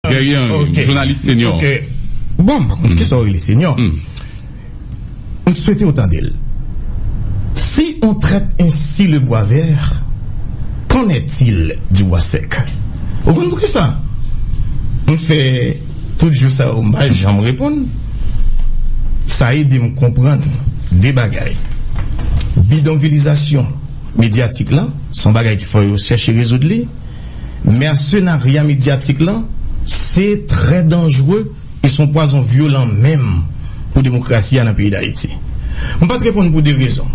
Dèryè anyen m jounalis senyò. Bon m pa konn kisa w rele senyò. M swete w tande l. Si on traite ainsi le bois vert, qu'en est-il du bois sec? Ou konn poukisa m fè tout jou sa yo m pa janm reponn? Sa ede m konprann de bagay. Bidonvilizasyon medyatik la s on bagay ki fò yo chèche rezoud li. Mèsenarya medyatik lan se trè danjre e s on pwazon vyolan menm pou demokrasi a nan peyi Dayiti. M pa t reponn pou de rezon.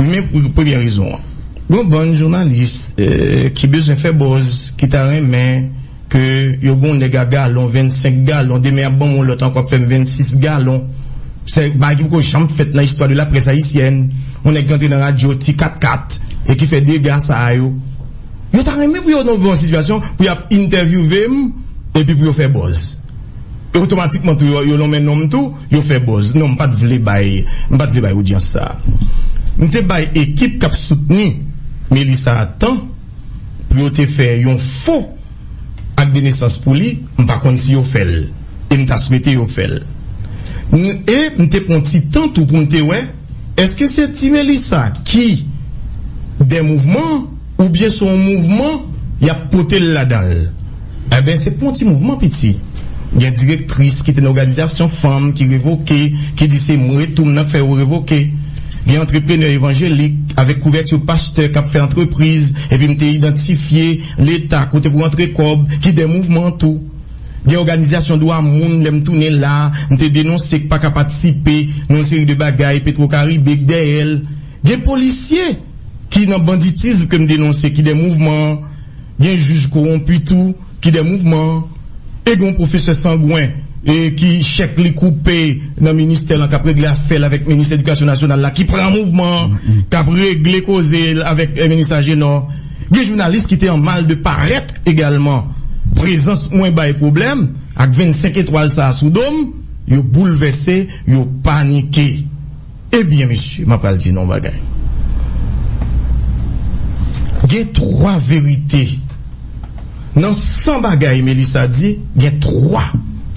Men pou premyè rezon an. Gen yon bann jounalis ki bezwen fè buzz, ki ta renmen. Ke yo gen yon nèg a galon, 25 galon, demen y ap ban mwen yon lòt ankò ap fè m 26 galon. Se bagay ki poko janm fèt nan istwa de la près ayisyèn. Yon nèg ki antre nan radyo, ti katkat, e ki fè dega sa a yo. Yo ta renmen pou yo nan yon sitiyasyon pou y ap entèvyouve m epi pou yo fè buzz. E otomatikman tou yo lonmen non m tou, yo fè buzz. Non, m pa t vle bay, m pa t vle bay odyans sa a. M te bay ekip k ap soutni Melissa a tan. pou yo te fè yon fo ak de nesans pou li, m pa konn si yo fè l, e m ta swete yo fè l. N, e m te pran ti tan tou pou m te wè, èske se ti Melisa ki dè mouvman an, oubyen se yon mouvman y ap pote l ladan l. Enben, se pou yon ti mouvman piti. Gen direktris ki te nan oganizasyon fanm ki revoke, ki di se mwen tou m nan fè yo revoke. Gen antreprenè evanjelik avèk kouvèti pastè k ap fè antrepriz, epi m te idantifye Leta kote pou antre kòb, ki dèyè mouvman tou. Gen òganizasyon dwa moun, lè m tounen la, m te denonse k pa ka patisipe nan yon seri de bagay Petwo Karibe k dèyè l. Gen polisye ki nan banditism ke m denonse ki dèyè mouvman. Gen jij kowonpi tou ki dè mouvman an, e gen yon pwofesè sangwen e ki chèk li koupe nan ministè lan k ap regle afè l avèk minis edikasyon nasyonal la ki pran mouvman an, k ap regle koze l avèk minis Ajenò. Gen jounalis ki te an mal de parèt egalman. Prezans mwen bay pwoblèm ak 25 etwal sa a sou do m, yo boulvèse, yo panike. E byen mesye map pral di nou yon bagay gen 3 verite nan 100 bagay Melissa di gen 3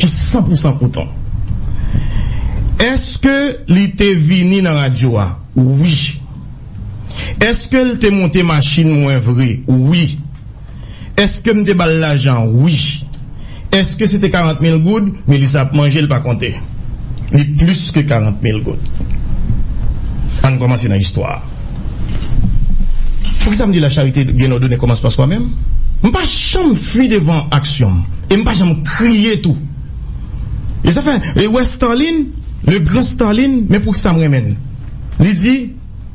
ki 100 pou 100 kouton eske li te vini nan radyo a wi eske l te monte machin mwen vre wi. Eske m te ba l lajan? Wi. Eske se te karant mil goud? Melisa ap manje, l pa konte. Li plis ke karant mil goud. An n kòmanse nan istwa a. Poukisa m di lacharite gen lòd ou ne kòmanse pa swa menm? M pa janm fui devan aksyon m e m pa janm kriye tou. E sa fè, e wè Starline, le grand Starline, men poukisa m renmen l. Li di.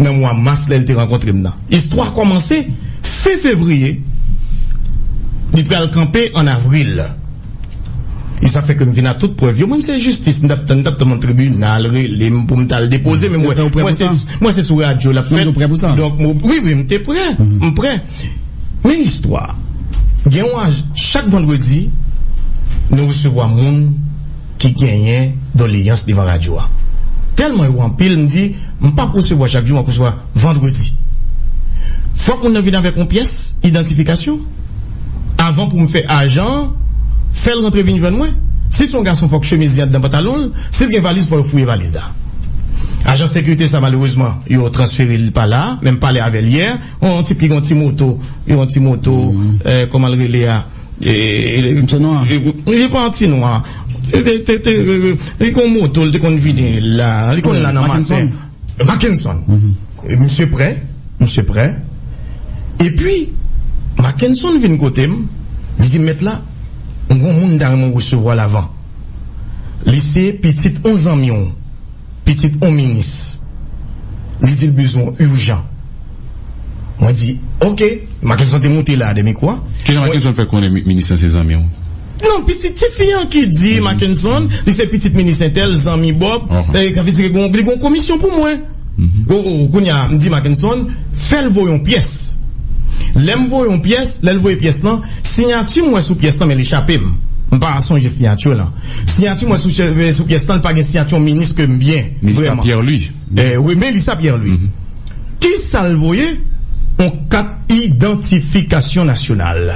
nan mwa mas lè l te rankontre m nan. Istwa a kòmanse fen fevriye, li pral kanpe ann avril. E sa fè ke m vin ak tout prèv yo. Mwen m se jistis m t ap tann, m t ap tann yon tribinal rele m pou m t al depoze men mwen mwen se sou radyo l ap fèt donk m wi wi m te prè m prè men istwa a gen yon chak vandredi nou resevwa moun ki genyen doleyans devan radyo a tèlman yo anpil m di m pap resevwa chak jou map resevwa vandredi fòk moun nan vin avèk yon pyès idantifikasyon avan pou m fè ajan an fèl rantre vin jwenn mwen si son gason fòk chemiz li andan pantalon l si l gen valiz fò yo fouye valiz la ajan sekirite sa malerezman yo transfere li pala men m pale avèl yè yon tip ki gen yon ti moto yon ti moto kòman l rele a. Misye nwa? Li pa ti nwa. Se te, li kon moto, li te konn vini la. Li konn la nan maten. Mackenson? Mackenson. Misye pre, misye pre. E pi, Mackenson vin kote m, li di m, Mèt la, m gen yon moun m ta renmen w resevwa l avan. Li se pitit yon zanmi w. pitit on minis li di l bezwen w urjan mwen di ok Mackenson te moute la a dè mikwo a Kijan Mackenson fè konnen minis lan se zanmi w? Non pitit ti fi an ki di Mackenson li se pitit minis entèl zanmi Bob sa vle di li gen yon komisyon pou mwen oh oh kounye a m di Mackenson fè l voye yon pyès lè m voye yon pyès lè l voye pyès lan siyati m wè sou pyès lan men li chape m m pa sonje siyati w lan. Siyati mwen sou pyès lan li pa gen siyati yon minis ke m byen Melissa Pierre-Louis Wi Melissa Pierre-Louis Kisa l voye yon kat idantifikasyon nasyonal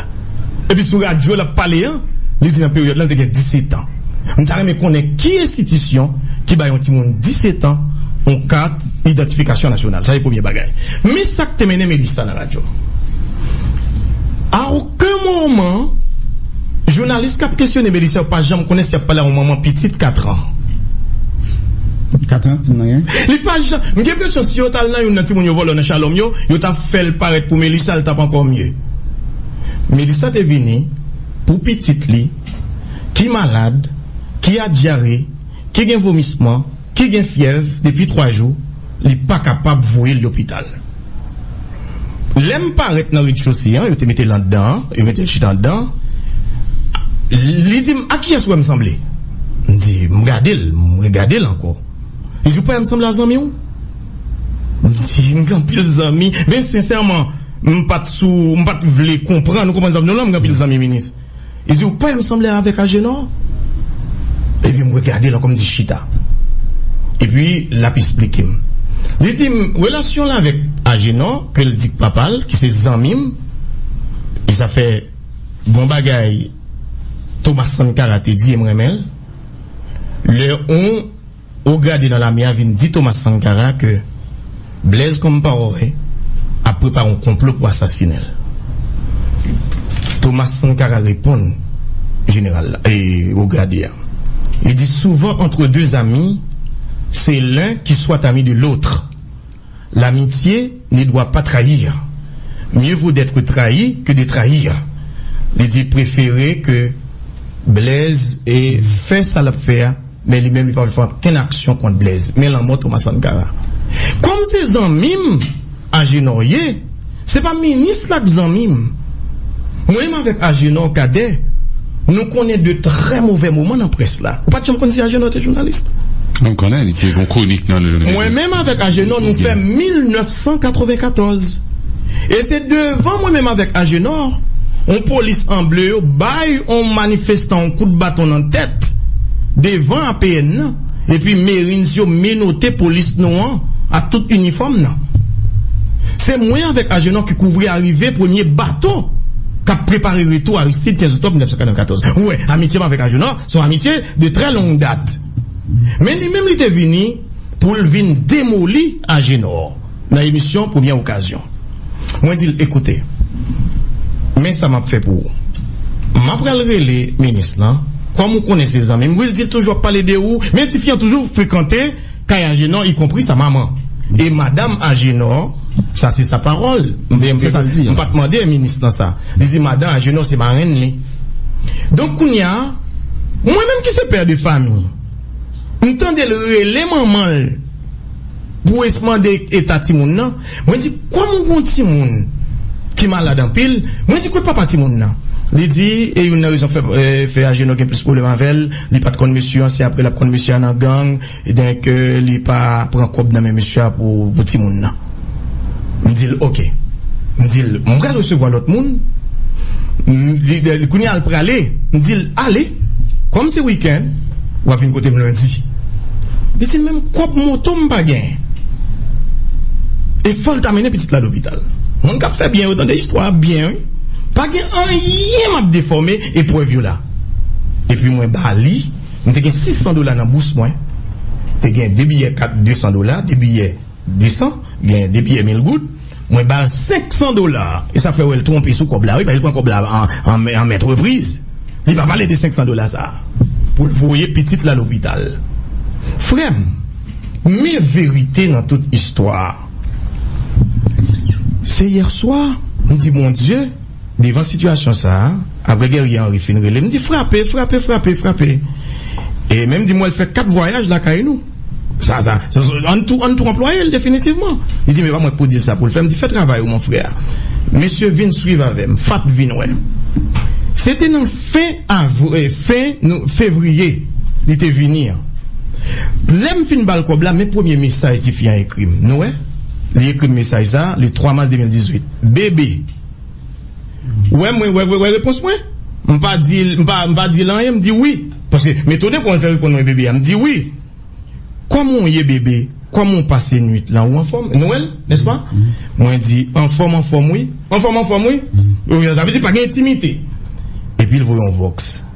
Epi sou radyo l ap pale an li di nan peryòd lan l te gen 17 an M ta renmen konnen ki enstitisyon ki bay yon timoun 17 an yon kat idantifikasyon nasyonal Sa se premye bagay Men sa k te mennen Melissa nan radyo a Ken moman, jounalis kap kesyone Melissa yo pa janm konnen si yap pale a yon manman pitit 4 ans. Kat an ti moun nan gen? Li pa janm, m gen presyon si yo tal nan youn nan timoun yo vòlò nan Shalom yo, yo ta fèl parèt pou Melissa l tap ankò mye. Melissa te vini pou pitit li ki malad, ki a dyare, ki gen vomisman. Ki gen fyèv depi 3 jou li pa kapab voye l lopital. Lè m parèt nan redchose an, yo te mete l andan an, yo mete l chita andan an, li di m, a kiyès ou wè m sanble? M di, m gade l, m regade l ankò. Li di, ou pa wè m sanble a zanmi w? M di, m gen anpil zanmi, men sensèman, m pa t sou, m pa t vle konprann, ou konprann sa m di w la, m gen anpil zanmi minis. Li di, Ou kwè m sanble avèk Ajenò? Epi m regade l ankò, m di, Chita. Epi l ap esplike m. Li di m, Relasyon l avèk Ajenò, ke l di k papa l, ki se zanmi m, e sa fè bon bagay Thomas Sankara te di e m renmen l, lè on. Wo grade nan lame a vin di Thomas Sankara ke Blaise Compaoré ap prepare yon konplo pou asasinen l. Thomas Sankara reponn jeneral la, e wo grade a. Li di, Souvent entre deux amis, c'est l'un qui soit ami de l'autre. L'amitié ne doit pas trahir, mieux vaut d'être trahi que de trahir li di prefere ke Blaise fè sa lap fè a men li menm li pap fè okenn aksyon kont Blaise men lanmò Thomas Sankara kòm se zanmim Agenor ye. Se pa minis la k zanmi m. Mwen menm avèk Ajenò, Kadè, nou konnen de trè movè moman nan près la. Ou pa t janm konn si Ajenò te jounalis? Mwen konnen li te yon kwonik nan. Mwen menm avèk Ajenò nou fè 1994. E se devan mwen menm avèk Ajenò, yon polis an ble yo bay yon manifestan yon kout baton nan tèt devan APN nan. Epi Marines yo menote polis nou an ak tout inifòm nan. Se mwen avèk Ajenò ki kouvri arive premye bato k ap prepare retou Aristide 15 oktòb 1994. Ou wè, amitye m avèk Ajenò se yon amitye de trè long dat. Men li menm li te vini pou l vin demoli Ajenò. Nan emisyon Premyè Okazyon, mwen di l, Ekoute, men sa m ap fè pou ou. M apral rele minis lan, kòm ou konnen se zanmi m. Wi, l di, l toujou ap pale de ou. Men tifi an toujou frekante kay Ajenò, ikonpri sa manman. E madam Ajenò, sa se sa pawòl, m pa t mande minis lan sa, li di madan Ajenò se marenn li. Donk kounye a, mwen menm ki se pè de fami, m tande l rele manman l. Bruce mande eta timoun nan. Mwen di, Kòm ou gen yon timoun ki malad anpil, mwen di, Kot papa timoun nan? Li di, E youn nan rezon k fè Ajenò gen plis pwoblèm avè l, li pa t konn mesye an, se apre l ap konn mesye a nan gang, donk li pa pran kòb nan men mesye a pou timoun nan. M di l, Ok. M di l, M pral resevwa lòt moun. Li, Kounye a l prale. M di l, Ale. Kòm se wikenn, w ap vin kote m lendi. Li di m, Men kòb moto m pa gen. E fò l ta mennen pitit la lopital. Moun k ap fè byen yo tande istwa a byen wi. Pa gen anyen m ap defòme e prèv yo la. Epi mwen ba li, m te gen 600 dola nan bous mwen. Te gen de biyè kat 200 dola, de biyè. 200 byen depi emil goud mwen bal 500 dola e sa fè wèl twonpe sou kòb la wi paske li pran kòb la an mèt repriz li pa pale de 500 dola sa poul voye pitit la lopital frèm men verite nan tout istwa a se yèswa m di bondye devan sitiyasyon sa aprè guerrier henri fin relem m di frape frape frape frape e menm di m wèl fè 4 vwayaj lakay nou. Sa sa An tou an tou anplwaye l definitivman Li di men pa mwen k pou di l sa pou l fè M di fè travay ou mon frè Mesye vin swiv avè m Fat vin wè Se te nan fen fen fevriye li te vini an Lè m fin ba l kòb la men premye mesaj tifi an ekri m Nou wè Li ekri m mesaj sa le 3 mas 2018 BB. Wè mwen wè wè repons mwen? M pa di l m pa m pa di l anyen m di wi paske m etone kouman l fè reponn mwen bebe a m di wi Kòman w ye bebe kòman w pase nuit lan ou anfòm nou wè l nèspa mwen di anfòm anfòm wi anfòm anfòm wi sa vle di pa gen entimite epi l voye yon vòks.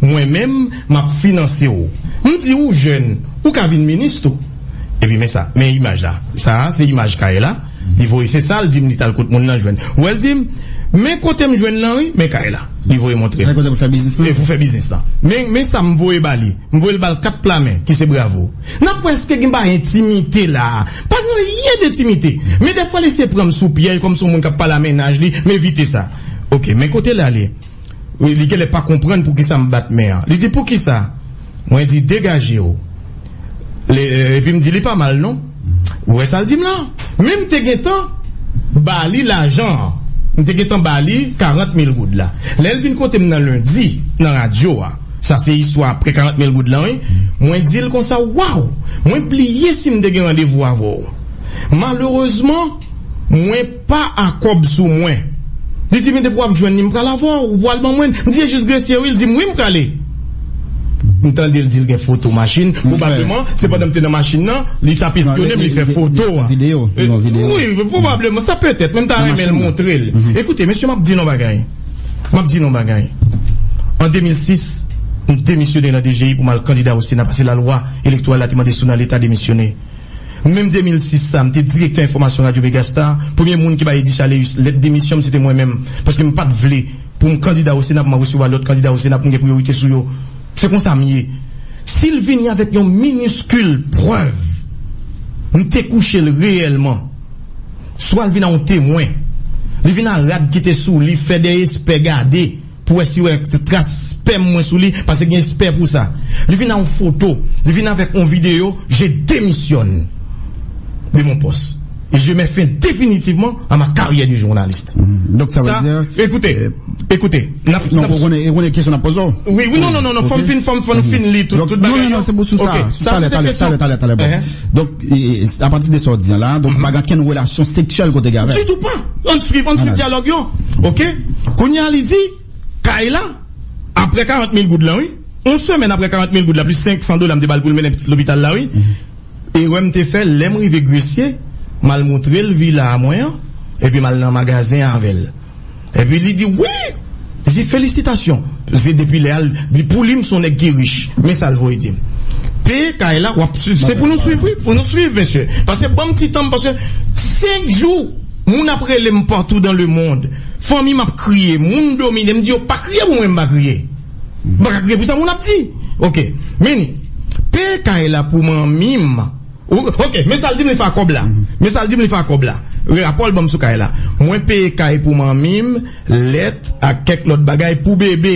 Mwen menm, m ap finanse w. M di ou jèn, ou ka vin minis tou. Epi men sa, men imaj la. Sa a se imaj kay la. Li voye, se sa l di m li t al kot moun nan jwenn. Wè l di m, men kote m jwenn lan wi, men kay la. Li voye montre m. Men kote pou fè biznis lan. Pou fè biznis lan. Men, men sa m voye ba li. M voye l ba l kat pla men, ki se bravo. N ap wè èske gen bay entimite la a. Pa gen anyen dentimite. Men dèfwa l eseye pran m sou pyèj kòm s on moun k ap pale a mennaj li, m evite sa. Ok, men kote l ale. Wi, li genlè pa konprann poukisa m bat men an. Li di, Poukisa? Mwen di, Degaje w. Epi m di, Li pa mal non. Ou wè sa l di m lan? Men m te gentan ba li lajan an. M te gentan ba li karant mil goud la. Lè l vin kote m nan lendi, nan radyo a, sa se istwa apre karant mil goud lan wi, mwen di l konsa, Waw! Mwen bliye si m te gen randevou avè w. Malerezman, mwen. Pa a kòb sou mwen. Li di m depi w ap jwenn li m pral avè w, ou pral ban mwen l. M di e jis gresye wi, li di m wi m prale. M tande l di l gen foto machin, pwobableman se pandan m te nan machin nan li t ap espyone m li fè foto a. Wi, pwobableman, sa petèt men m ta renmen l montre l. Ekoute mesye m ap di n yon bagay, m ap di n yon bagay, an 2006 m demisyone nan DGI pou m al kandida o sena pase lalwa elektoral la te mande sou nan leta demisyone. Menm 2006 sa, m te direktè enfòmasyon Radyo Megastar. Premye moun ki bay Eddy Chaleus lèt demisyon m se te mwen menm, paske m pa t vle pou m kandida o Sena pou m ap resevwa lòt kandida o Sena pou m gen priyorite sou yo. Se konsa m ye. Si l vini avèk yon miniskil prèv m te kouche l reyèlman, swa l vin a yon temwen, li vin a rad ki te sou li, fè dèyespè gade. pou wè si yo wè tras spèm mwen sou li pase gen espè pou sa li vin a yon foto li vin avèk yon videyo je demisyòn de mon pòs e je mè fen definitivman a ma karyè de journalist donk sa vle di ekoute ekoute nap nap ou konnen kesyon nap poze w wi wi non non non fòm fin fòm fòm fin li tout bagay yo ok sa se te kesyon talè talè talè talè bon donk. A pati de sa w di an la a, donk pa gen okenn relasyon seksyèl ke w te gen avè l? Ditou pa! Ann swiv, ann swiv dyalòg yo. Ok. Kounye a li di, kay la, aprè karant mil goud lan wi, yon semèn aprè karant mil goud la plis senk san dola m te ba l pou l mennen pitit lopital la wi, erè m te fè lè m rive Gresye, m al montre l vila a mwen an, epi m al nan magazen avè l. Epi li di wi! Li di felisitasyon! Paske depi lè a, li pou li m son nèg ki rich. Men sa l voye di m. Peye kay la, w ap swiv. Se pou nou swiv wi! Pou nou swiv mesye! Pase ban m ti tan m paske 5 jou moun ap rele m patou dan lemond. Fanmi m ap kriye, moun domine m di yo pa kriye pou mwen m pa kriye. M pa ka kriye pou sa moun ap di. Ok. Meni, peye kay la pou manmi m. Ok men sal dim li fa kob la men sal dim li fa kob la rapol banm sou kay la mwen peye kay pou manmim lèt ak kèk lot bagay pou bebe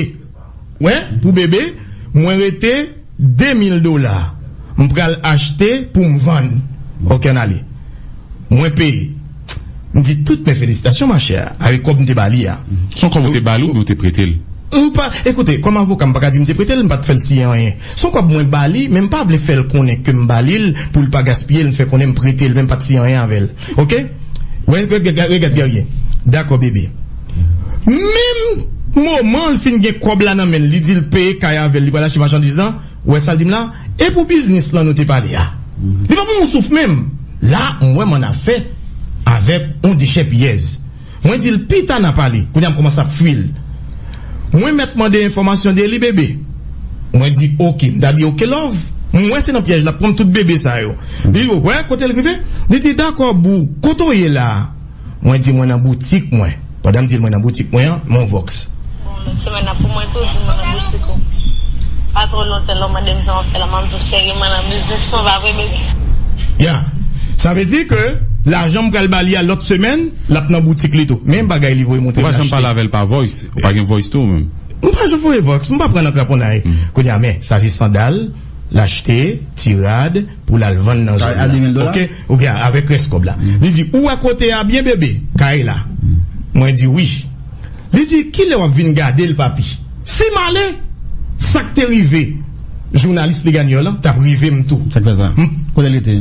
wè pou bebe mwen rete 2 mil dola mpral achte poum vann ok anale mwen peye. M di tout mes félicitations ma chère avek kob m te ba li a. Son kob ou te bali oubyen ou te prete l? M pa, ekoute, kòm avoka m pa ka di m te prete l, m pa t fè l siyen anyen. Son kòb mwen ba li, men m pa vle fè l konnen ke m ba li l pou l pa gaspiye l, m fè konnen m prete l men m pa t siyen anyen avè l. Ok? Regat Guerrier, Dakò bebe. Menm moman l fin gen kòb la nan men l, li di l peye kay avè l, li pral achte machandiz lan, Ou wè sa l di m la? E pou biznis lan nou te pale a? Li pa ban m yon souf menm. La m wè m ann afè avèk yon dechèpiyèz. Mwen di l pita n a pale. Kounye a m kòmanse ap fwi l. Mwen mèt mande enfòmasyon de li bebe. Mwen di oke. M ta di oke lòv. M wè se nan pyèj l ap pran m tout bebe sa yo. Li wè kote l rive. Li di dakò boo. Kote w ye la a? Mwen di mwen nan boutik mwen. Pandan m di l mwen nan boutik mwen an, Mon Vox. Bon, lòt semèn nan pou mwen tou di mwen nan boutik ou. Pa twò lontan lè w mande m jan w fè la, m ap di w cheri mwen nan biznis mwen, pa vre bebi? Ya! Sa vle di ke lajan m pral ba li a lòt semèn, l ap nan boutik li tou. Menm bagay li voye montre m l achte. Ou pa janm pale avè l pa voice? Ou pa gen voice tou ou menm? M pa janm voye voice. M pa pran nan kraponnay. Kounye a, men, sa se sandal l achte, ti rad. pou l al vann nan zòn nan ok ou gen avèk rès kòb la li di ou wè kote a byen bebe kay la mwen di wi li di kilè w ap vin gade l papi si m ale sa k te rive jounalis Pleganyò lan t ap rive m tou sa k fè sa kote li te.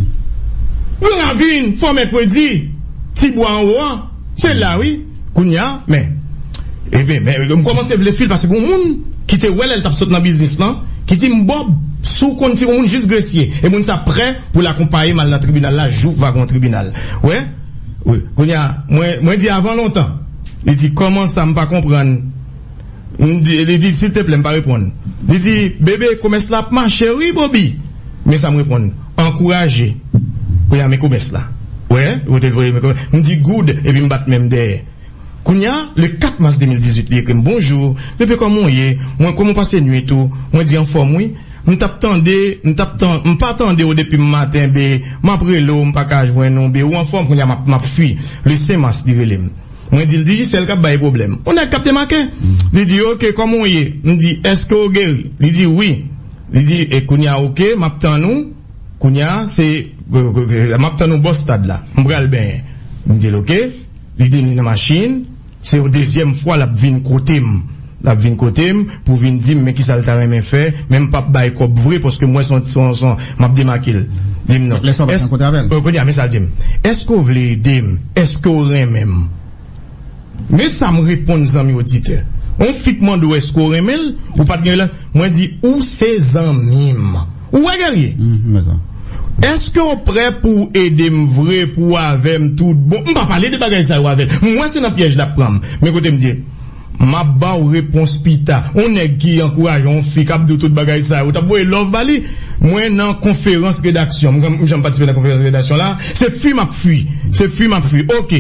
Gran ravin fò mèkredi ti bwa anwo an se la wi. Kounya men Ebyen men m kòmanse vle sui'l paske gon moun ki te wè lè'l tap sot nan biznis lan ki dim Bob si w konn ti gon moun jis gresye e moun sa prè pou l akonpaye m al nan tribinal la jou va gon tribinal wè wi kounya mwen di avan lontan li di kòman sa m pa konprann. Li di, Silteplè, m pa reponn. Li di, Bebe, komès la ap mache wi, Bobi. Men sa m reponn, Ankouraje. Kounye a, men komès la. Ou wè? Ou te voye men komès. M di, Good, epi m bat men m dèyè. Kounye a, le 4 mas 2018, li ekri m, Bonjou, Bebe, kòman w ye? Mwen, kòman w pase nuit ou? Mwen di, Anfòm wi. M t ap tande, m t ap tan, m pa tande w depi m maten, Be. M ap rele w, m pa ka jwenn ou, Be. Ou anfòm? Kounye a, m ap, m ap fui. Le 5 mas, li rele m. Mwen di l, Digicel k ap bay pwoblèm. Yon nèg k ap demake. Li di, Oke, kòman w ye? M di, Èske w geri? Li di, Wi. Li di, E kounye a oke, m ap tann ou. Kounye a, se m ap tann ou bò stad la. M pral benyen. M di l, Oke. Li vini nan machin. Se yon dezyèm fwa l ap vin kote m. L ap vin kote m pou vin di m men kisa l ta renmen fè, men m p ap bay kòb vre paske m wè se yon son m ap demake l. Di m non. Lè sa w pa t rankontre avè l. Kounye a, men sa l di m, Èske w vle ede m? Èske w renmen m? Men sa m reponn zanmi oditè, On fi k mande w èske w renmen l, ou pa t gen relasyon, mwen di ou se zanmi m. Ou wè Guerrier? M wè sa. Èske w prè pou w ede m vre, pou w avè m tout bon? M pa pale de bagay sa yo avè l. M wè se nan pyèj l ap pran m. Men kote m di. Map baw repons pita. On nèg ki ankouraje on fi kap diw tout bagay sa yo ou tap voye love ba li? Mwen nan konferans redaksyon m janm patisipe nan konferans redaksyon la se fwi map fwi se fwi map fwi ok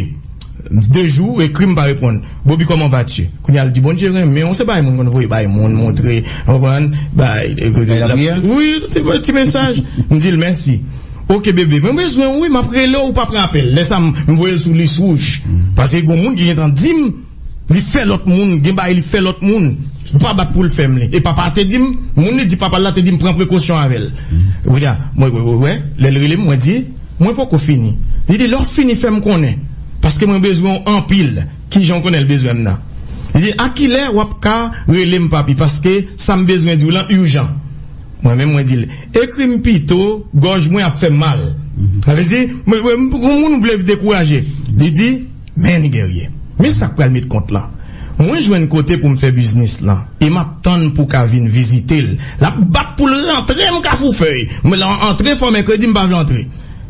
2 jou ou ekrim pa reponn Bobi comment vas tu kounya l di Bondye renmenw se bagay moun konn voye bay moun montre ou konprann bay wi ti mesaj m dil mèsi ok bebe mwen bezwenw wi map relew ou pap pran apèl lè sa m voyel sou lis wouj paske gon moun ki gentan dim. Li fè lòt moun gen bagay li fè lòt moun ou pa bat poul fèm li e papa te dim moun li di papal la te dim pran prekosyon avèl kounya mwen wè lèl relem mwen di mwen poko fini li di lèw fini fèm konnen paske mwen bezwenw anpil kijanw konnenl bezwenm nan li di a kilè wap ka relem papi paske sam bezwen diw lan urjan mwen menm mwen dil ekrim pito gòj mwen ap fèm mal sa vle di mwen wè gon moun ou vle dekouraje li di. Men li dèryè. Men sak pral met kont lan. Mwen jwenn kote pou m fè biznis lan e m ap tann pou w ka vin vizite l. L ap bat pou l rantre m Kafoufèy. Mwen lan antre fò mèkredi m pa vle antre.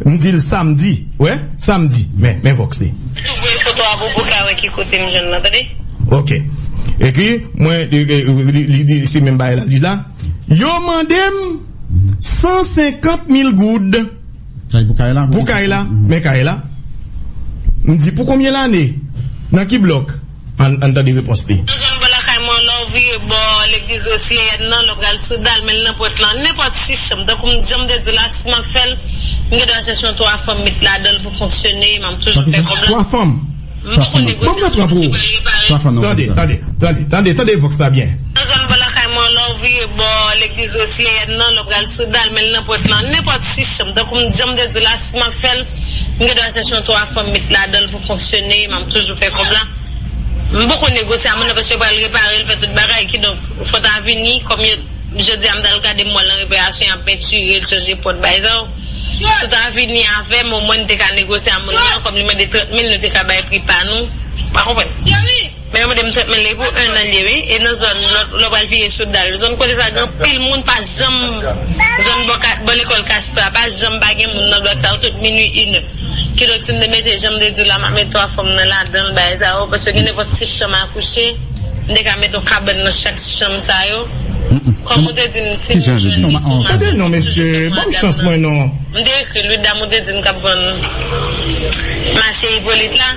M di l samdi. Ou wè? Samdi. Men, men vòks li. M tou voye foto a pou pou w ka wè ki kote m jwenn lan tande. Ok. Epi, mwen, li di se menm bagay l ap di la. Yo mande m 150 mil goud. Pou kay la, men kay la. M di pou konbyen lane? Nan ki blòk? Ann tande repons li. Dezyèm bò lakay mwen, lè w vire bò legliz Wesleyèn nan, lè w pral sou dal men Lnanpwent lan, nenpòt sis chanm, tankou m jan m te di w la, si m ap fè l, m gen dwa chèche yon twa fanm met ladan l pou fonksyone, m ap toujou fè kòb la. Twa fanm? Mwen poko negosye nan zone si pral repare. Tande, tande, tande, tande, tande vox la byen. Nan zòn bò lakay mwen lè w vire bò legliz Wesleyèn nan, lè w pral sou dal men nan pwent lan, nenpòt 6 chanm, tankou m jan m te di w la si m ap fè l, m gen dwa chèche yon 3 fanm met ladan l pou fonksyone, m ap toujou fè kòb la. M poko negosye a moun nan paske yo pral repare l, fè tout bagay, kidonk fò ta vini kòm yo, jodi a m t al gade m wè l nan reperasyon y ap pentire l, chanje pòt bay sa yo. Si ou ta vini avèm o mwen n te ka negosye a moun nan an kòm li mande 30 mil nou te ka bay pri pa nou ou pa konprann men yo mande m 30 mil li pou 1 an liye wi e nan zòn lòt lè pral vire sou dal zòn kote sa gen anpil moun pa janm zòn bò ka bò lekòl kastra pa janm pa gen moun nan blòk sa yo tout minwi inè kidonk si m te mete janm te diw la map met 3 fanm nan ladanl bagay sa yo paske gen nenpòt 6 chanm a kouche. M te ka met yon kabann nan chak chanm sa yo. Kòm ou te di m si m jwenn estonmak mwen ap adapte m. M te ekri l wi dam ou te di m k ap vann mache Ipolit la.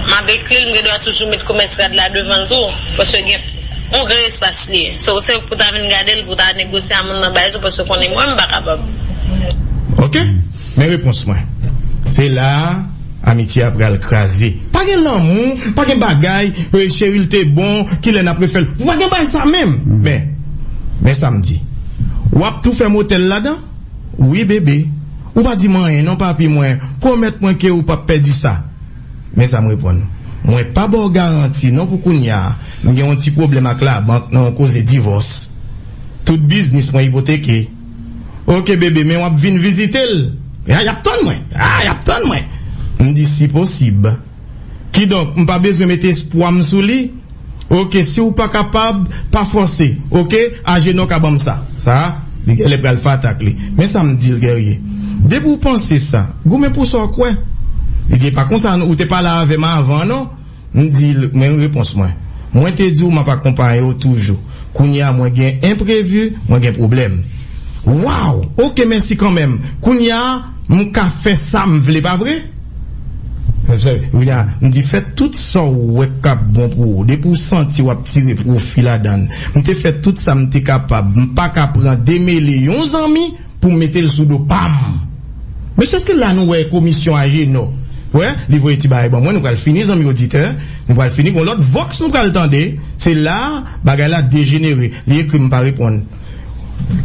M ap ekri l m gen dwa toujou met komès rad la devan l tou paske gen yon gran espas li. Se ou sèk pou ta vin gade l pou ta negosye a moun nan bay sou paske konnen mwen m pa kapab. Ok. Men repons mwen. Se la a amitye a pral kraze. Pa gen lanmou, pa gen bagay, cheri l te bon, ki lè n ap refè l. Pa gen bagay sa menm. Men, men sa m di. W ap tou fè motèl ladan? Wi bebe. Ou pa di m anyen non papi mwen. Pwomèt mwen ke ou p ap pèdi sa. Men sa m reponn. Mwen pa ba w garanti non pou kounya. M gen yon ti pwoblèm ak labank nan yon koze divòs. Tout biznis mwen ipoteke. Ok bebe men wap vin vizite l Ah yap tann mwen Ah yap tann mwen M di si posib Kidonk m pa bezwen mete espwa m sou li Ok si w pa kapab pa fòse ok Ajenò ka ban m sa Sa a li genlè pral fatak li Men sa m di l Guerrier Depi w panse sa goumen pou sa w kwè Li di e pa konsa non ou te pale avè m avan non M di l, Men repons mwen. Mwen te di w m ap akonpaye w toujou. Kounye a mwen gen enprevi, mwen gen pwoblèm. Wow! Oke, mèsi kanmenm. Kounye a, m ka fè sa m vle, pa vre? Kounye a, m di, Fè tout sa w wè k ap bon pou ou. Depi w santi w ap tire pwofi ladan l. M te fè tout sa m te kapab. M pa ka pran demele yon zanmi Poum metel sou do pam. Mesye eske la nou wè komisyon ajenò wè li voye ti bagay ban mwen nou pral fini zanmi oditè nou pral fini gon lòt vox nou pral tande se la bagay la dejenere li ekrim pa reponn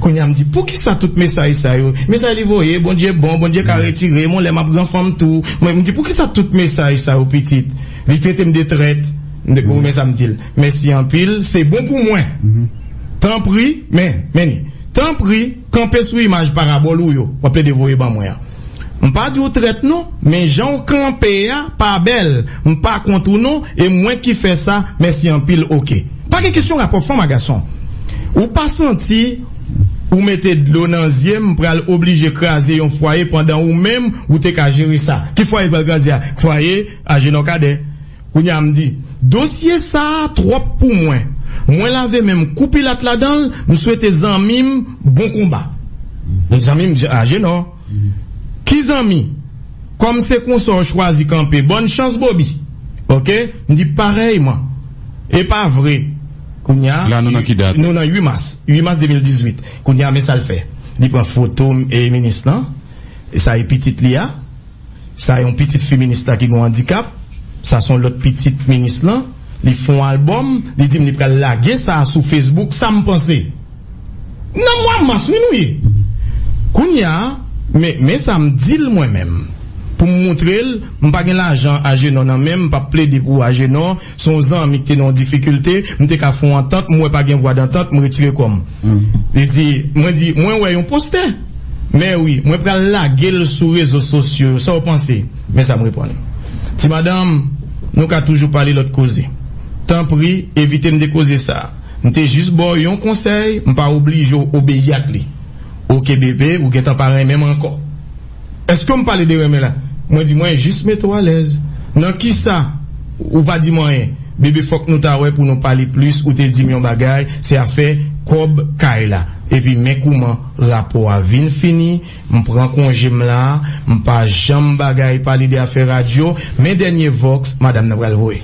kounya mdi poukisa tout mesaj sa yo mesaj li voye bondye bon bondye ka retirem on lè map gran fanm tou mwen mdi poukisa tout mesaj sa yo pitit li tretem de trèt mde goumen sa mdil mèsi anpil se bon pou mwen tanpri men meni. Tanpri, kanpe sou imaj parabòl ou yo w ap plede voye ban mwen an. M pa di w trèt non, men jan w kanpe a pa bèl. M pa kont ou non, e mwen ki fè sa, mèsi anpil oke. Pa gen kesyon rapò fanm a gason. Ou pa santi ou mete dlo nan zye m pral oblije kraze yon fwaye pandan ou menm ou te ka jere sa. Ki fwaye l pral kraze a? Fwaye Ajenò Kadè. Kounye a m di, dosye sa twòp pou mwen. Mwen lave men m kou Pilat ladan l, m swete zanmi m bon konba. Zanmi m di, Ajenò, ki zanmi? Kòm se konsa w chwazi kanpe, bòn chans Bobi! Oke? M di, Parèyman. E pa vre? Kounye a, La nou nan ki dat? Nou nan 8 mas. 8 mas 2018. Kounye a, men sa l fè. Li pran foto minis lan, sa e pitit li a. Sa yon pitit fi minis la ki gon andikap, sa son lòt pitit minis lan, li fon album, li dim li pral lage sa sou Facebook, sam panse? Nan mwa mas wi nou ye kounya men men sam dil mwen menm poum moutrel m pa gen lajan Agenor nan menm m pap plede pou Agenor Se yon zanmi ki te nan yon difikilte, m te ka fè yon antant, m wè pa gen vwa dantant, m retire kò m. Li di, mwen di, mwen wè yon postè. Men wi, mwen pral lage l sou rezo sosyo yo, sa w panse? Men sa m reponn. Ti madanm, nou ka toujou pale lòt koze. Tanpri, evite m de koze sa a. M te jis ba w yon konsèy, m pa oblije w obeyi ak li. Oke bebe, ou gentan pa renmen m ankò. Eske m pale de renmen la? Mwen di mwen jis mete w alèz. Nan kisa? Ou pa di m anyen. Bebe fòk nou ta wè pou nou pale plis ou te di m yon bagay se afè kòb kay la. Epi men kouman rapò a vin fini, m pran konje m la, m pa janm bagay pale de afè radyo, men dènye vòks madam nan pral voye.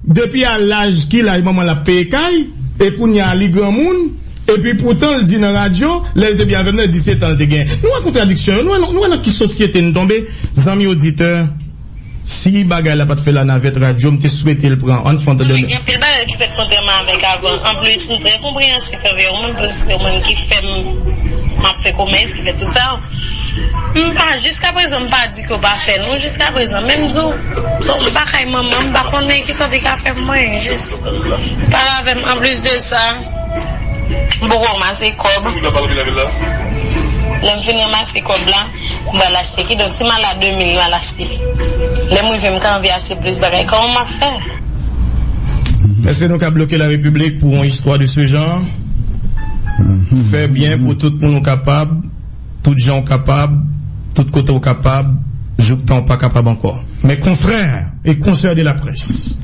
Depi a laj ki laj manmanl ap peye kay e kounya li granmoun epi poutan l di nan radyo lèl te byen avèm nan 17 an l te gen nou wè kontradiksyon yo nou wè nan ki sosyete n tonbe zanmi oditè si bagay la pat fè la navèt radyo m te swete l pran ann fon tande gen anpil bagay ki fèt kontrèman avèk avan anplis m trè konpreyansif anvè w menm paske se w menm ki fèm map fè komès ki fè tout sa. M pa jiska prezan m pa di ke yo pa fè non jiska prezan men m di w bon m pa kay manman m pa konnen ki sòt li ka fè pou mwen jis li pale avè m anplis de sa m poko ranmase kòb lè m fin ranmase kòb la m pral achte kidonk si m al a 2000 m al achte lè m rive m ka anvi achte plis bagay kòman m ap fè Èske nou ka bloke la repiblik pou yon istwa de se jan? Fè byen pou tout moun ou kapab. Tout jan ou kapab, tout kote ou kapab, jouk tan ou pa kapab ankò. Mes confrères et consoeurs de la presse,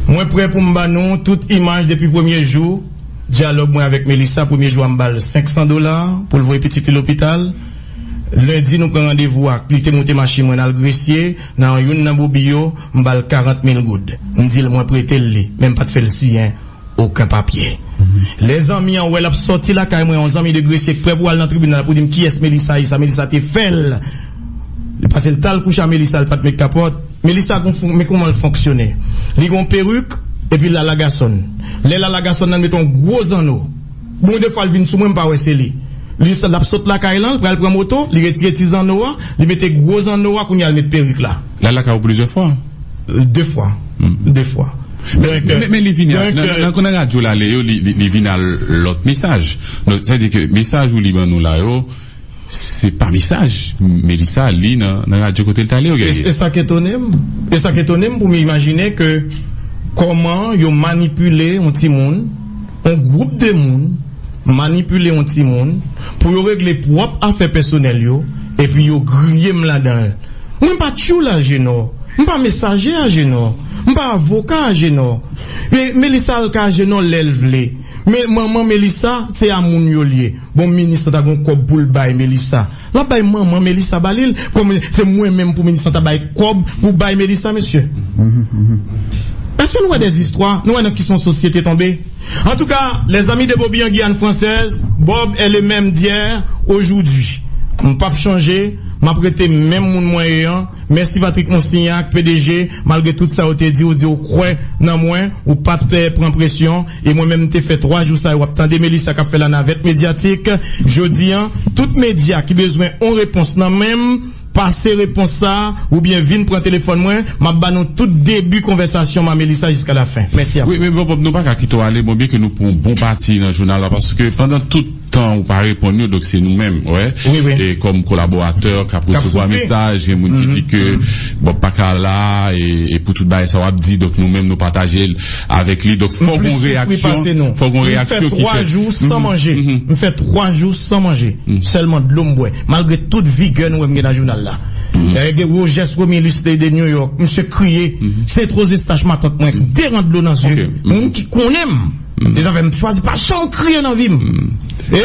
Mwen prè pou m ba nou tout imaj depi premye jou dyalòg mwen avèk Melissa. Premye jou a m ba l 500 dola pou l voye pitit li lopital. Lendi nou pran randevou ak li te moute machin mwen n al Gresye nan youn nan bobi yo. M ba l 40 mil goud. M di l mwen prete l li men m pa t fè l siyen Oken papye. Lè zanmi an wè l ap sòti lakay mwen, yon zanmi de Gresye k prè pou al nan tribinal pou di m kiyès Melisa ye, sa Melisa te fè l. Li pase l t al kouche a Melisa, li pa t met kapòt. Melisa gon fon, men kouman l fonksyone. Li gon perik, epi l alagason. Lè l alagason nan, l met yon gwo zanno. Bon defwa l vin sou mwen, m pa wè se li. Li sa, l ap sot lakay lan, l pral pran moto, li retire ti zanno a, li mete gwo zanno a, kounye a l met perik la. L al lakay ou plizyè fwa? De fwa. De fwa. Men li vini al, nan radyo l ale yo, li vini al lòt mesaj. Donk sa vle di ke mesaj ou li ban nou la yo, se pa mesaj Melissa al li nan radyo kote l t ale yo genyen. E sa k etone m? E sa k etone m pou m imajine ke kòman yo manipile yon timoun? On gwoup de moun manipile on ti moun pou yo regle pwòp afè pèsonèl yo epi yo griye m ladan l. Mwen pa tchoul Ajenò, m pa mesaje Ajenò, m pa avoka Ajenò. Melisa al ka Ajenò lè l vle. Men manman Melisa se a moun yo l ye. Bon minis lan ta gen on kòb pou l bay Melisa. Lap bay manman Melissa ba lil kòm se mwen menm pou Melissa ta bay kòb pou bay Melissa mesye eske nou wè des istwa nou wè nan ki son sosyete tonbe antouka les amis de Bobi en Guyane française Bob est le même d'hier aujourd'hui m pap chanje map rete menm moun mwen ye an mèsi Patrick Monsignac pdg malgre tout sa yo te di ou di ou kwè nan mwen ou pat pran presyon E mwen menm m te fè 3 jou sa yo ap tande Melissa kap fè lanavèt medyatik jodi an tout medya ki bezwen on repons nan menm pase repons sa oubyen vin pran telefòn mwen map ba nou tout debi konvèsasyon m a Melissa jiska lafen. Mèsi a pou. Wi men bòbòb nou paka kite w ale bon byen ke nou pran yon bon pati nan jounal la paske pandan tout. Tan ou pa reponn yo donk se nou menm wè e kòm kolaboratè kap resevwa mesaj gen moun ki di ke Bob pa ka la e pou tout bagay sa wap di donk nou menm nou pataje l avèk li donk fòk gon reyaksyon fòk gon reyaksyon ki fèt. M fè 3 jou san manje m fè 3 jou san manje sèlman dlo m bwè malgre tout vigè nou wè m gen nan jounal la e Rogès Romilus te de New York misye kriye se twozestach matant mwen k deran dlo nan zye m ki konnen m. E zafè m chwazi pa janm kriye nan vi m. E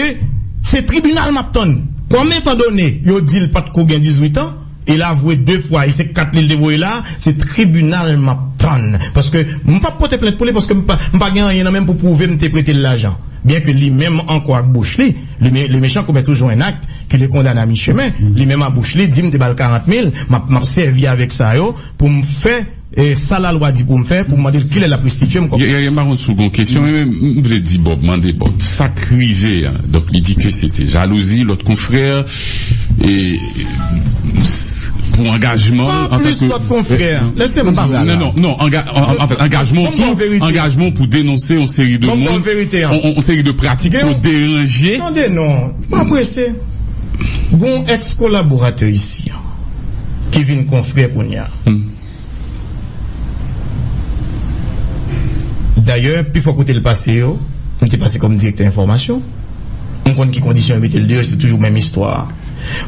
se tribinal m ap tann. Kòm etandone yo di l pa t ko gen dizwit an, e l avwe de fwa e se kat li l te voye la a, se tribinal m ap tann. Paske m pa p pote plent pou li paske m pa gen anyen nan men m pou pwouve m te prete l lajan. Byen ke li menm ankò ak bouch li, le méchant commet toujours un acte qui le condamne à mi-chemin, li menm a bouch li di m te ba l 40 mil, m ap sèvi avèk sa yo pou m fè. E sa lalwa di pou m fè pou m mande l kilè l ap restityem kòb la? Yaya, m pa konn si w gen yon kesyon, men m vle di Bòb, mande Bòb, sa k rive a? Donk li di ke se jalouzi lòt konfrè e pou angajman l antanke. Anplis lòt konfrè, lese m pale ala. Non, non, anfèt angajman w tou, angajman w pou denonse yon seri de moun, yon seri de pratik pou deranje. Tande non, pa prese. Gon èks kolaboratè isi ki vin konfrè kounya. M. Dayè, pi fò kote l pase yo, li te pase kòm direktè enfòmasyon. M konn ki kondisyon yo mete l deyò, se toujou menm istwa a.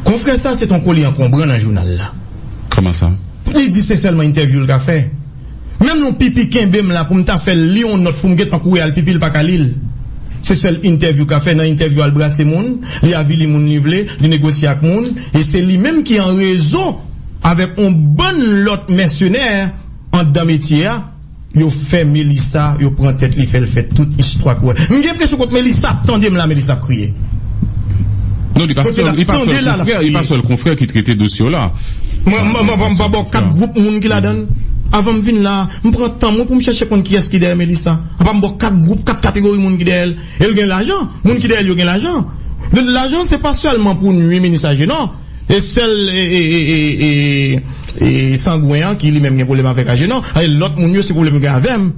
Konfrè sa a se t on kole ankonbran nan jounal la. Kòman sa? Li di se sèlman entèvyou l ka fè. Menm lè w pipi kenbe m la pou m ta fè l li on nòt pou m gentan kouri al pipi l pa ka li l. Se sèl entèvyou l ka fè. Nan entèvyou a l brase moun, li avili moun li vle, li negosye ak moun e se li menm ki an rezo. avèk on bann lòt mèsenè andan metye a, yo fè Melissa yo pran tèt li fè l fè tout istwa kouwè. M gen enpresyon kot Melissa ap tande m la Melissa ap kriye. Non li pa sèl li pa sèl konfrè li pa sèl konfrè ki trete dosye w la. M pa ba w kat gwoup moun ki ladan l. Avan m vin la a, m pran tan mwen pou m chèche konn kiyès ki dèyè Melissa. Apa m ba w kat gwoup, kat kategori moun ki dèyè l. E l gen lajan. Moun ki dèyè l yo gen lajan. Lajan se pa sèlman pou nwi Melissa je non. E sèl sangwen an ki li menm gen pwoblèm avèk aje non e lòt moun yo se pwoblèm yo gen avèm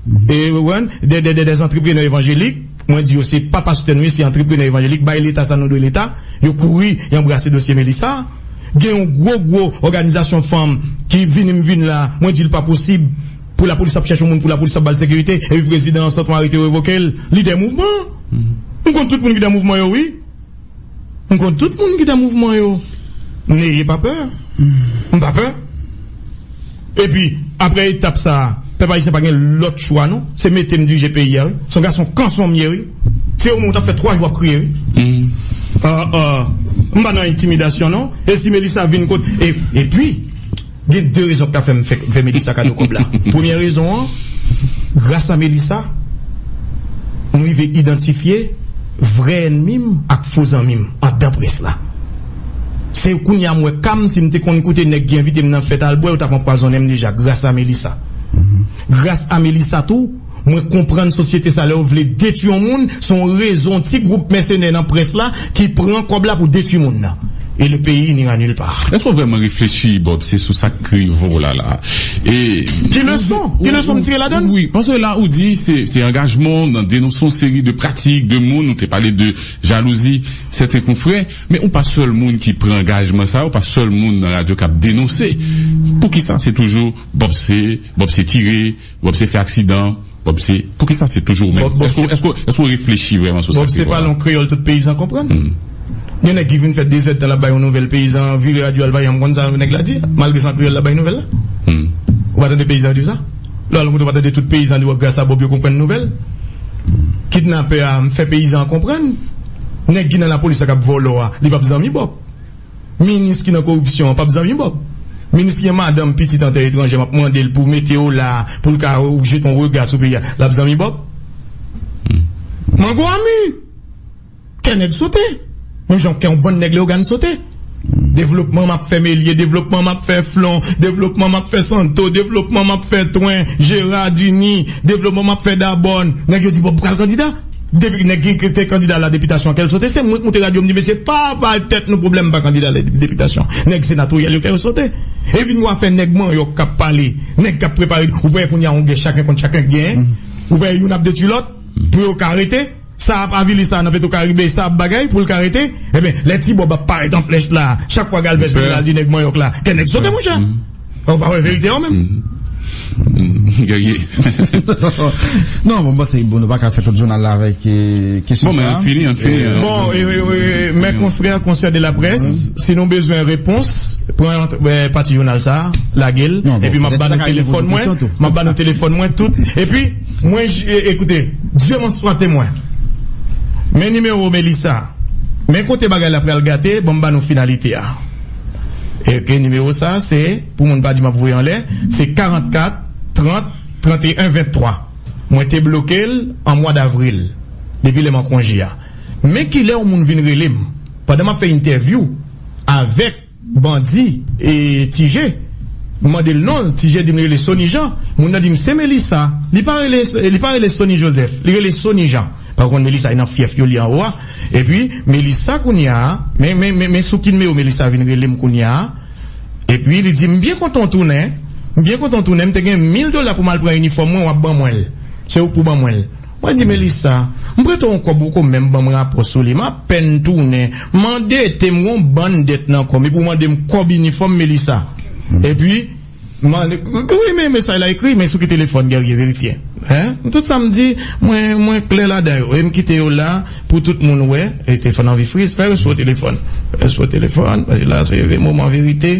ou konprann dè zantreprenè evanjelik mwen di yo se pa pastè nou ye se antreprenè evanjelik bay leta sa nou dwe leta yo kouri y anbrase dosye Melissa gen yon gwo gwo òganizasyon fanm ki vini m vini la mwen di l pa posib pou lapolis ap chèche yon moun pou lapolis ap ba l sekirite epi prezidan an sòt m arete yo revoke l lidè mouvman m konn tout moun ki nan mouvman yo wi. M konn tout moun ki nan mouvman yo Neye pa pè M pa pè Epi aprè etap sa a pèp ayisyen pa gen lòt chwa non Se mete m dirije peyi a wi Se yon gason kanson m ye wi Se yon moun w t ap fè 3 jou ap kriye wi M pa nan entimidasyon non E si Melissa vin kot Epi. Gen 2 rezon ki ta fèm fèk fè Melissa kado kòb la. Premyè rezon an, gras a Melissa, m rive idantifye vrè ènmi m ak fo zanmi m andan près la. Se kounye a m wè ka m, si m te konn koute nèg ki envite m nan fèt al bwè, yo t ap anpwazonnen m deja gras a Melissa. Gras a Melissa tou. Mwen konprann sosyete sa lèw vle detwi yon moun son rezo yon ti group mèsenè nan près la ki pran kòb la pou detwi moun nan e le peyi nira nul part. Èske w vrèman reflechi Bob se sou sak k rive w la la e. Ki leson? Ki leson m tire ladann? Wi, paske la ou di se angajman w nan denonse yon seri de pratik, de moun, ou te pale de jalouzi sèten konfrè, men ou pa sèl moun ki pran angajman sa, ou pa sèl moun nan radyo kap denonse. Poukisa se toujou Bob se, Bob se tire. Bob se fè aksidan, Bob se, poukisa se toujou ou menm? Èske ou reflechi vrèman sou sa ki di Bob la? Bob se pale yon kreyòl tout peyizan konprann. Gen nèg ki vin fè dezèdtan l ap bay yon nouvèl, peyizan an vire radyo a l pa janm konn sa nèg la di, malgre se an kreyòl l ap bay nouvèl la. Ou pa tande peyizan yo di sa? Lè w al yon kote ou pa tande tout peyizan di w gras a Bob yo konprann nouvèl? Kidnapè a, m fè peyizan an konprann. Nèg ki nan lapolis la k ap vòlò a, li p ap zanmi Bob. Minis ki nan koripsyon an pap zanmi Bob. Minis ki gen madanm, pitit an tè etranjè map mande l pou mete yo la pou l ka jete yon rega sou peyi a lap zanmi Bob? Mango a mu! Kè nèg sote. Menm jan kè yon bann nèg Leyogàn sote. Devlopman map fè Melye, devlopman map fè Flon, devlopman map fè Santo, devlopman map fè Twen, Jera, Duni, devlopman map fè Dabòn. Nèg yo di Bob pral kandida. Depi nèg ki te kandida ala depitasyon kè l sote, se mwen ki moute radyo m di mesye pa bay tèt nou pwoblèm m pa kandida ala depitasyon. Nèg senatoryal yo kè yo sote. E vin wa fè nèg manyòk k ap pale, nèg k ap prepare ou wè kounye a yon gè chaken kont chaken k genyen. Ou wè youn ap detui lòt pou yo ka rete. Sa ap avili sa nan petwokaribe, sa ap bagay pou l ka rete. Enben lè ti Bòb ap parèt an flèch la chak fwa Galvèz vin la l di nèg manyòk la kè nèg sote monchè. Ou pa wè verite yo menm? Guerrier. Non, mwen panse bon nou pa ka fè tout jounal la avèk kesyon sa. Bon, men an fini, an fini. Bon, mè konfrè konsè de la près, si nou bezwen repons, pran pati jounal sa, lage l, epi map ban nou telefòn mwen, map ban nou telefòn mwen tout, epi mwen, ekoute, Dieu m'en soit témoin, men nimewo Melissa, men kote bagay la pral gate, bon m ban nou finalite a. Èke nimewo sa se pou moun pa di map voye anlè se 44 30 31 23 mwen te blokel an mwa davril depi lèm an konje a men kilè yon moun vin relem pandan map fè entèvyou avèk bandi tije m mandel nonl tije dim li rele sony jean moun nan dim se melisa li pa rele sony joseph li rele sony jean. Paw konn Melissa e nan fyèf yo li anwo a epi Melissa kounya men sou ki nimewo Melissa vin relem kounya epi li di m byen kontan w tounen m byen kontan w tounen m te gen mil dola pou m al pran inifòm mwen wap ban mwen l se ou k pou ban mwen l mwen di Melissa m prete w on kòb ou ko menm ban m rapò sou li m apèn tounen m andete m gen on bann dèt nan kò m epi w mande m kòb inifòm Melissa epi Wi men mesaj la ekri men sou ki telefòn Guerrier verifye tout sa m di mwen klè ladan yo e m kite yo la pou tout moun wè Stéphane anvi friz fè respo telefòn respo telefòn paske la se moman verite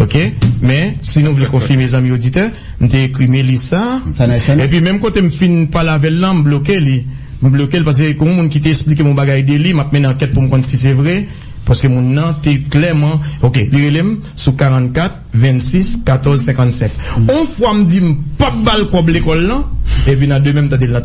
ok men si nou vle konfime zanmi oditè m te ekri Melissa epi menm kote m fin pale avè l lan m bloke li m bloke l paske gon moun ki te esplike m yon bagay de li m ap mennen ankèt pou m konn si se vre paske moun nan te klèman ok li rele m sou 44. 26 14 57 on fwa m di m pap bal kòb lekòl lan epi nan demen m tande l nan.